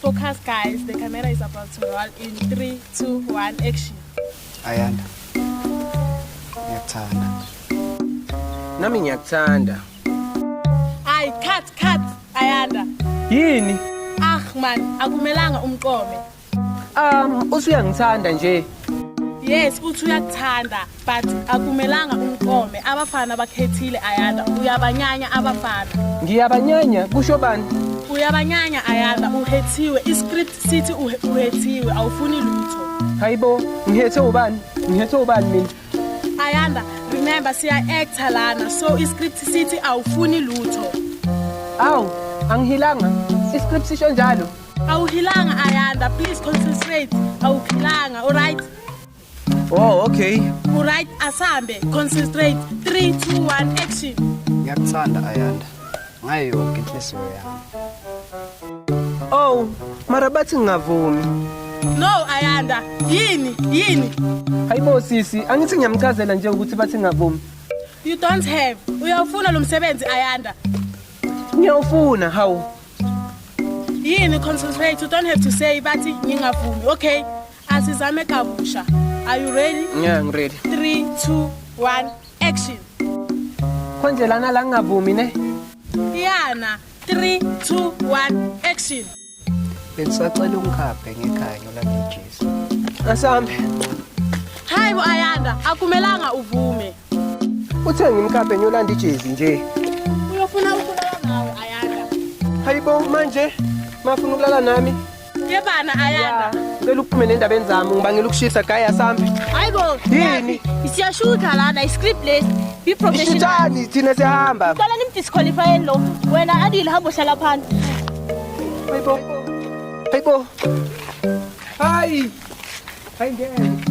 Focus guys, the camera is about to roll in 3, 2, 1, action. Ayanda. Ngiyakuthanda. Nami ngiyakuthanda. Ay, cut, cut, Ayanda. Yini? Ah man, akumelanga umqome. Um, usuyangithanda nje. Yes, uthi uyakuthanda. but akumelanga umqome abafana abakhethile ayanda uyabanyanya abafana ngiyabanyanya kusho bani uyabanyanya ayanda uhethiwe iscript sithi uhethiwe awufuni lutho hayibo ngihethe ubani ngihethe ubani mina ayanda remember siya actor lana so iscript sithi awufuni lutho awu angihilanga iscript sisho njalo awuhilanga ayanda please concentrate awuhilanga alright Oh, okay. Right, asambe, concentrate. 3 2 1 action. Ngiyakuthanda Ayanda. Ngayo yonke inhliziyo yami. Oh, mara bathi ngingavumi. No, Ayanda. Yini? Yini? Hayibo sisi, angithi ngiyamchazela nje ukuthi bathi ngingavumi. You don't have. Uyawufuna lo msebenzi Ayanda. Ngiyawufuna, hawu. Yini concentrate. You don't have to say bathi ngingavumi. Okay. Asizame kabusha. Are you ready? Yeah, I'm ready. 3 2 1 action. Konje lana la ngingavumi ne? Yana 3 2 1 action. Bengisacela ungikhaphe ngekhanyo la ngejesu. Asambe. Hayi bo Ayanda, akumelanga uvume. Uthe ngimkhaphe ngiyolanda ijezi nje. Uyofuna ukulala nawe Ayanda. Hayibo manje mafuna ukulala nami. Yebana ayanda. Cela uphume nendabeni zami ngibangela ukushisa gaya sambi. Hayibo. Yini? Siyashutha lana iscript lesi. Be professional. Ishutani thina sihamba. Qala nimdisqualify lo. Wena adile hamba uhlala phansi. Hayibo. Hayibo. Hayi. Hayi ngeke.